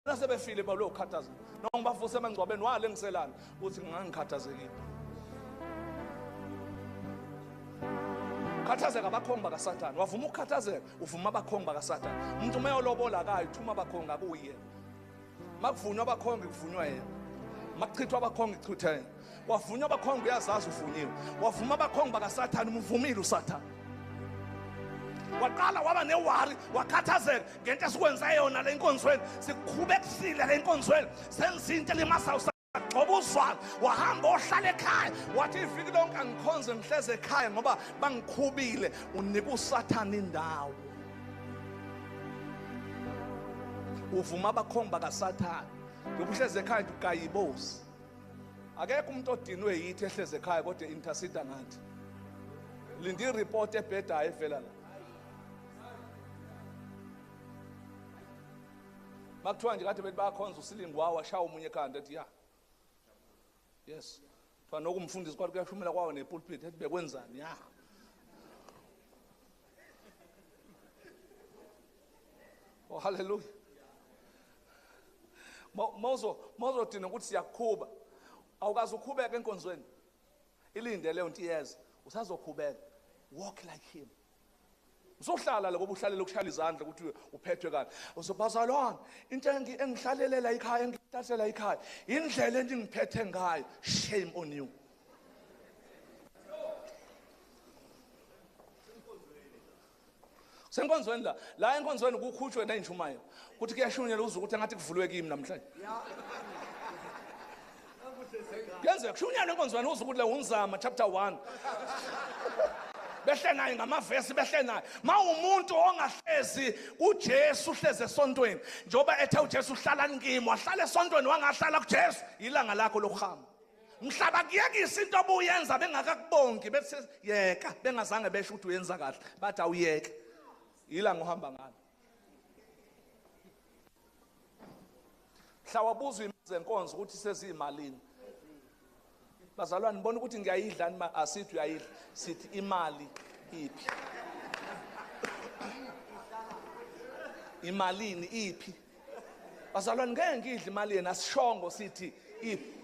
nasebefile balo ukhathaza noma ngibavuse emangcwabeni wale ngiselana uthi ngangikhathazekile khathazeka abakhongi bakasathane wavuma ukukhathazeka uvuma abakhongi bakasathane umuntu uma yolobola akayo thuma abakhongi akuyena makuvunywa abakhongi kuvunywa yena makuchithwa abakhongi kuchithwa yena wavunywa abakhongi uyazazi uvunyiwe wavuma abakhongi bakasathane umuvumile usathane waqala waba newari wakhathazeka ngento esikwenza yona le nkonzweni sikhubekisile le nkonzweni senza into elimasayo sagcoba uzwalo wahamba ohlala ekhaya wathi iviki lonke angikhonze ngihleze ekhaya ngoba bangikhubile unika usathane indawo uvuma abakhongi bakasathane yokuhleze ekhaya nje ugayibozi Akekho umuntu odinwe yithi ehleze ekhaya kodwa intercede ngathi. Linda ireport ebhedayo evela la. Makuthiwa nje kade bethi bayakhonza usilingi wawa shawa umunye ekhanda ethi ya. Yes. Kuthiwa nokumfundisi kwathi kuyashumela kwawo nepulpit ethi bekwenzani ya. oh haleluya mawuzodina ukuthi siyakuqhuba awukazi uqhubeka enkonzweni ilinde leyo nto iyeza usazoqhubeka walk like him uzohlala lokuba uhlalele ukushayela izandla ukuthi uphethwe kani uzobazalwana into engihlalelela ikhaya engihlalela ikhaya indlela endingiphethe ngayo shame on you senkonzweni la la enkonzweni kukhutshwe ney'nshumayelo kuthi kuyashunyela uze ukuthi engathi kuvulwe kimi namhlanje kuyenzeka kushunyelwe enkonzweni uze ukuthi le wumzama chapter one behle naye ngamavesi behle naye mawumuntu ongahlezi kuJesu uhleze esontweni njengoba ethe uJesu uhlala nikimi wahlala esontweni wangahlala kuJesu ilanga lakho lokuhamba mhla bakuyekisa into obuyenza bengakakubongi bethi yeka bengazange besho ukuthi uyenza kahle bathi awuyeke yila ngohamba ngalo mhla wabuzwa izenkonzo ukuthi seziyimalini bazalwane nibona ukuthi ngiyayidla nima asithi uyayidla sithi imali iphi imalini iphi bazalwane ngeke ngidle imali yena sishongo sithi iphi